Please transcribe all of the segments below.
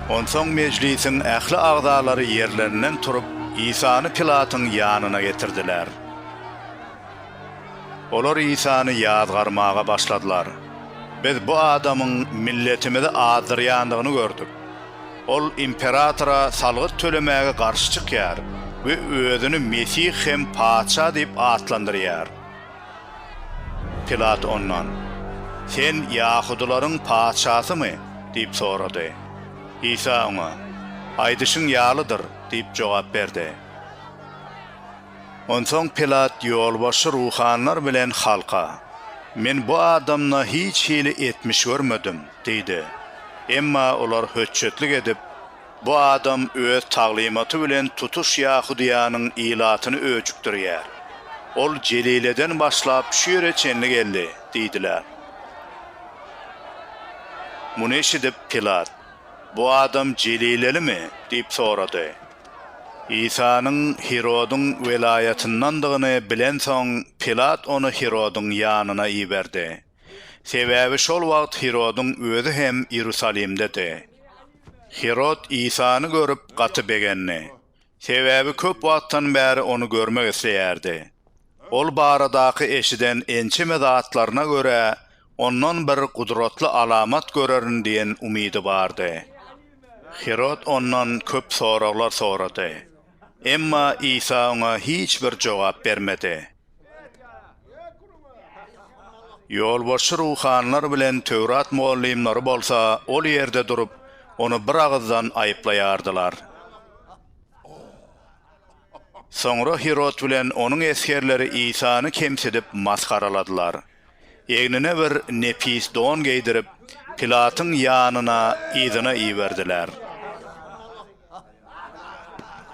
Onsoň mejlisiň ähli agzalary ýerlerinden turup, Isany Pilatyň ýanyna getirdiler. Olar Isany ýazgarmaga başladylar, Biz bu adamyň milletimizi azdyrýandygyny gördük. Ol imperatora salgyt tölemäge garşy çykýar we özüni Mesih hem Patyşa diýip atlandyrýar. Pilat ondan, Sen ýahudylaryň patyşasymy? diýip sorady. Isa oňa, Aýdyşyň ýalydyr diýip jogap berdi. Onsoň Pilat ýolbaşçy ruhanylar bilen halka, Men bu adamda hiç hili etmiş görmedim diýdi. Emma olar höçjetlik edip, Bu adam öz taglymaty bilen tutuş Ýahudyýanyň ilatyny öjükdirýär. Ol Jelileden başlap şu ýere çenli geldi diýdiler. Muny eşidip, Pilat, Bu adam jelilelimi? diýip sorady. Isanyň Hirodyň welaýatyndandygyny bilensoň, Pilat ony Hirodyň ýanyna iberdi. Sebäbi şol wagt Hirodyň özi hem Iýerusalimdedi. Hirod Isany görüp, gaty begendi. Sebäbi köp wagtdan bäri ony görmek isleýärdi. Ol baradaky eşiden ençeme zatlaryna görä, ondan bir gudratly alamat görerin diýen umydy bardy. Hirod ondan köp soraglar sorady. Emma Isa oňa hiç bir jogap bermedi. Ýolbaşçy ruhanylar bilen Töwrat mugallymlary bolsa ol ýerde durup, ony bir agyzdan aýyplaýardylar. Soňra Hirod bilen onuň esgerleri Isany kemsidip, masgaraladylar. Egnine bir nepis don geýdirip, Pilatyň ýanyna yzyna iberdiler.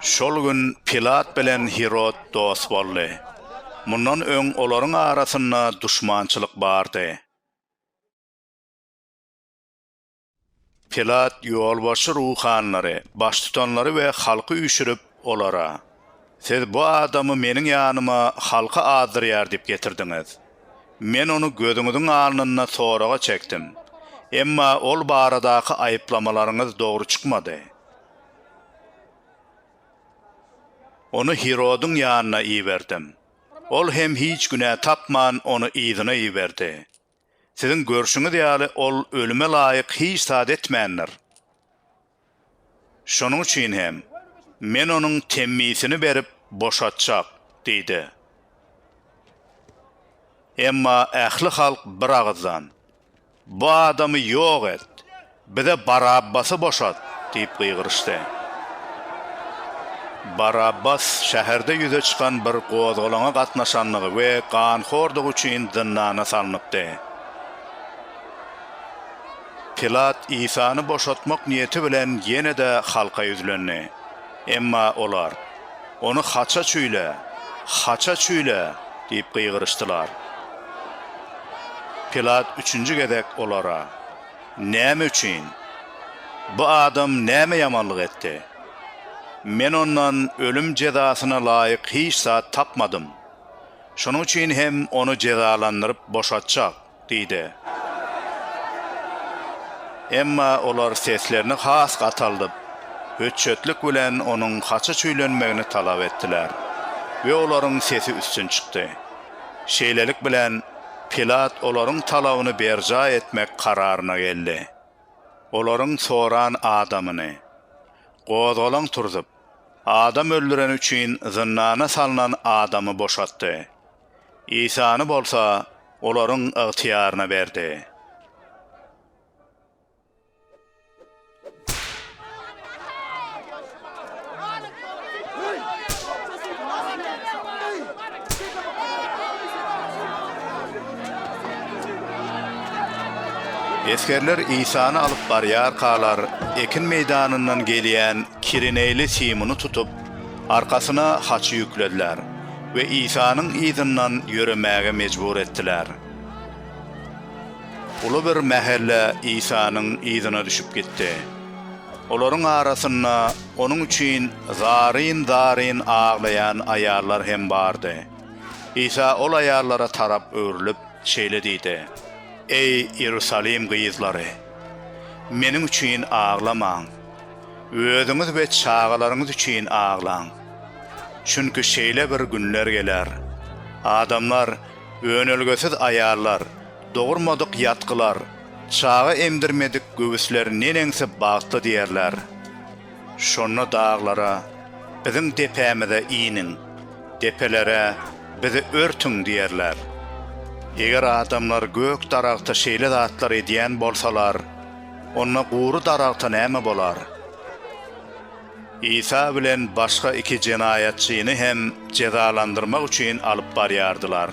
Şol gün Pilat bilen Hirod dost boldy. Mundan öň olaryň arasynda duşmançylyk bardy. Pilat ýolbaşçy ruhanylary, baştutanlary we halky üýşürip, olara, Siz bu adamy meniň ýanyma halky azdyrýar diýip getirdiňiz. Men ony gözüňiziň alnynda soraga çekdim, emma ol baradaky aýyplamalaryňyz dogry çykmady. Ony Hirodyň ýanyna iberdim. Ol hem hiç günä tapman, ony yzyna iberdi. Siziň görşüňiz ýaly ol ölüme laýyk hiç zat etmändir. Şonuň üçin hem Men onuň temmisini berip boşatjak diýdi. Emma ähli halk bir agyzdan, Bu adamy ýok et! Bize Barabbasy boşat! diýip gygyryşdy. Barabbas şäherde ýüze çykan bir gozgalaňa gatnaşandygy we ganhordygy üçin zyndana salnypdy. Pilat Isany boşatmak niýeti bilen ýene-de halka ýüzlendi. Emma olar, Ony haça çüýle! Haça çüýle! diýip gygyryşdylar. Pilat üçünji gezek olara. Näme üçin? Bu adam näme ýamanlyk etdi? Men ondan ölüm jezasyna laýyk hiç zat tapmadym. Şonuň üçin hem ony jezalandyryp boşatjak diýdi. Emma olar seslerini has gataldyp, höçjetlik bilen onuň haça çüýlenmegini talap etdiler we olaryň sesi üstün çykdy. Şeýlelik bilen, Pilat olaryň talabyny berjaý etmek kararyna geldi. Olaryň soran adamyny, gozgalaň turzup, adam öldüreni üçin zyndana salnan adamy boşatdy. Isany bolsa olaryň ygtyýaryna berdi. Esgerler Isany alyp barýarkalar, ekin meýdanyndan gelýän kireneýli Simuny tutup, arkasyna haçy ýüklediler we Isanyň yzyndan ýöremäge mejbur etdiler. Ulubir mähelle Isanyň yzyna düşüp gitdi. Olaryň arasynda Onuň üçin zaryn-zaryn aglaýan aýallar hem bardy. Isa ol aýallara tarap öwrülip, şeýle diýdi, Eý, Iýerusalim gyzlary! Meniň üçin aglamaň. Özüňiz we çagalaryňyz üçin aglaň. Çünki şeýle bir günler geler, adamlar Önelgesiz aýallar, dogurmadyk ýatgylar, çaga emdirmedik göwüsler neneňsi bagtly diýerler. Şonda daglara, biziň depämize iniň, depelere, bizi örtüň diýerler. Eger adamlar gök daragta şeýle zatlar edýän bolsalar, onda gury daragta näme bolar? Isa bilen başga iki jenaýatçyny hem jezalandyrmak üçin alyp barýardylar.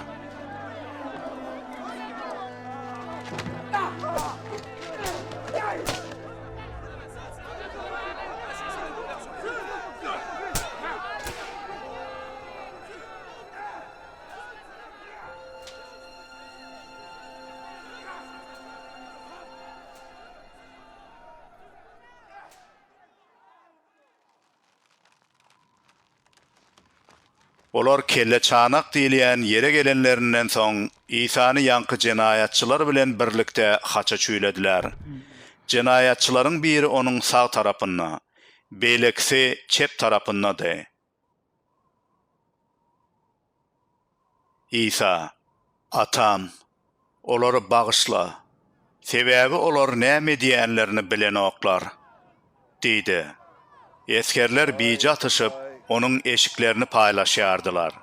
Olar kelleçanak diýilýän ýere gelenlerinden soň, Isany ýaňky jenaýatçylar bilen birlikde haça çüýlediler. Jenaýatçylaryň biri onuň sag tarapynda, beýlekisi çep tarapyndady. Isa, Atam, olary bagyşla, sebäbi olar näme edýänlerini bilenoklar diýdi. Esgerler bije atyşyp, onuň eşiklerini paýlaşýardylar.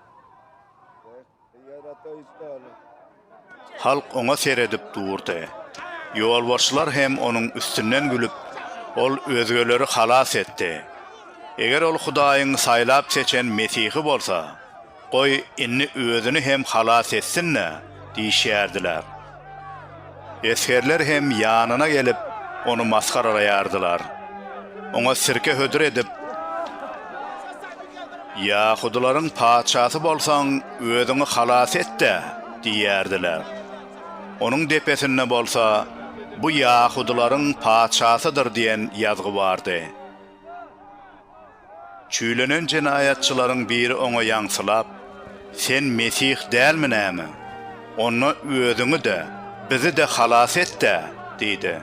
Halk oňa seredip durdy. Ýolbaşçylar hem onuň üstünden gülüp, Ol özgeleri halas etdi. Eger ol Hudaýyň saýlap seçen Mesihi bolsa, goý, indi özüni hem halas etsin-dä! diýişýärdiler. Esgerler hem ýanyna gelip, ony masgaralaýardylar. Oňa sirke hödür edip, Ýahudylaryň patyşasy bolsaň, özüňi halas et-de! diýýärdiler. Onuň depesinde bolsa, Bu ýahudylaryň patyşasydyr diýen ýazgy bardy. Çüýlenen jenaýatçylaryň biri oňa ýaňsylap, Sen Mesih dälmi näme? Onda özüňi-de, bizi-de halas et-dä! diýdi.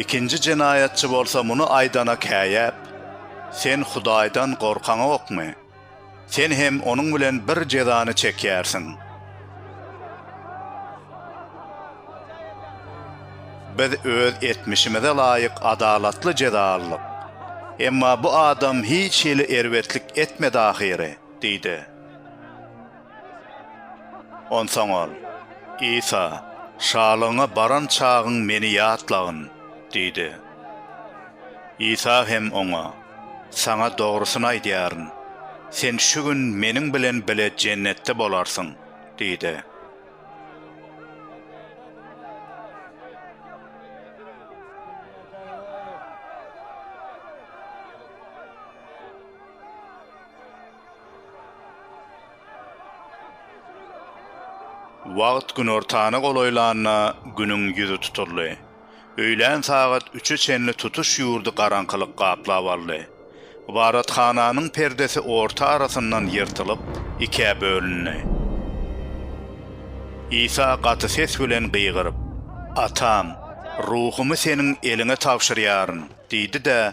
Ikinji jenaýatçy bolsa muny aýdana käýäp, Sen Hudaýdan gorkaňokmy? Sen hem onuň bilen bir jezany çekýärsiň. Biz öz etmişimize laýyk adalatly jeza aldyk. Emma bu adam hiç hili erbetlik etmedi ahyry, diýdi. Onsoň ol, Isa, şalygyňa baran çagyň meni ýatlagyn, diýdi. Isa hem oňa. Saňa dogrusyny aýdýaryn, sen şu gün Meniň bilen bile Jennetde bolarsyň diýdi. Wagt günortana golaýlanda Günüň ýüzi tutuldy. Öýlän sagat üçe çenli tutuş ýurdy garaňkylyk gaplap aldy. Ybadathananyň perdesi orta arasyndan ýyrtylyp, ikä bölündi. Isa gaty ses bilen gygyryp, Atam, ruhumy Seniň eliňe tabşyrýaryn! diýdi-de,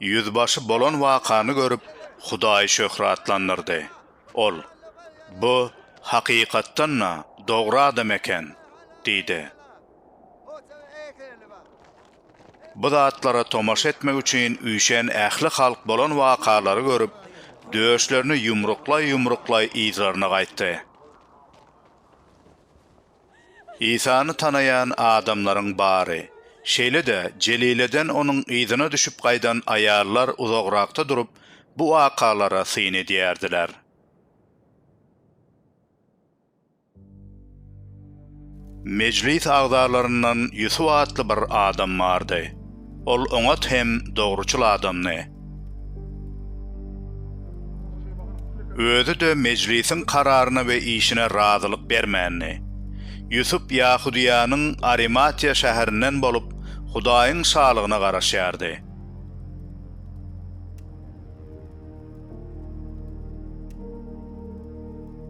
Ýüzbaşy bolan wakany görüp, Hudaýy şöhratlandyrdy. Ol, Bu, hakykatdan-da, dogry adam eken! diýdi. Bu zatlara tomaşa etmek üçin üýşen ähli halk bolan wakalary görüp, döşlerini ýumruklaý-ýumruklaý yzlaryna gaýtdy. Isany tanaýan adamlaryň bary, şeýle-de Jelileden onuň yzyna düşüp gaýdan aýallar uzagrakda durup, bu wakalara syn edýärdiler. Mejlis agzalaryndan Ýusup atly bir adam bardy. Ol oňat hem dogruçyl adamdy. Özi-de mejlisiň kararyna we işine razylyk bermändi. Ýusup Ýahudyýanyň Arimatiýa şäherinden bolup, Hudaýyň Şalygyna garaşýardy.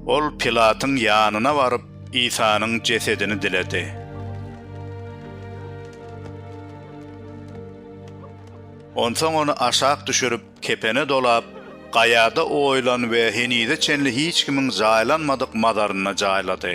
Ol Pilatyň ýanyna baryp, Isanyň jesedini diledi. Onsoň ony aşak düşürip, kepene dolap, gaýada oýulan we henize çenli hiç kimiň jaýlanmadyk mazarynda jaýlady.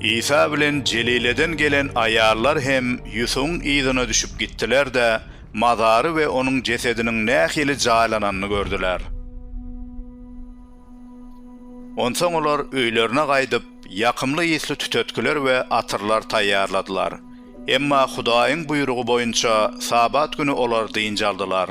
Isa bilen Jelileden gelen aýallar hem Ýusuň yzyna düşüp gitdiler-de, mazary we onuň jesediniň nähili jaýlananyny gördüler. Onsoň olar öýlerine gaýdyp, ýakymly ysly tütetgiler we atyrlar taýýarladylar. Emma Hudaýyň buýrugy boýunça Sabat güni olar dynç aldylar.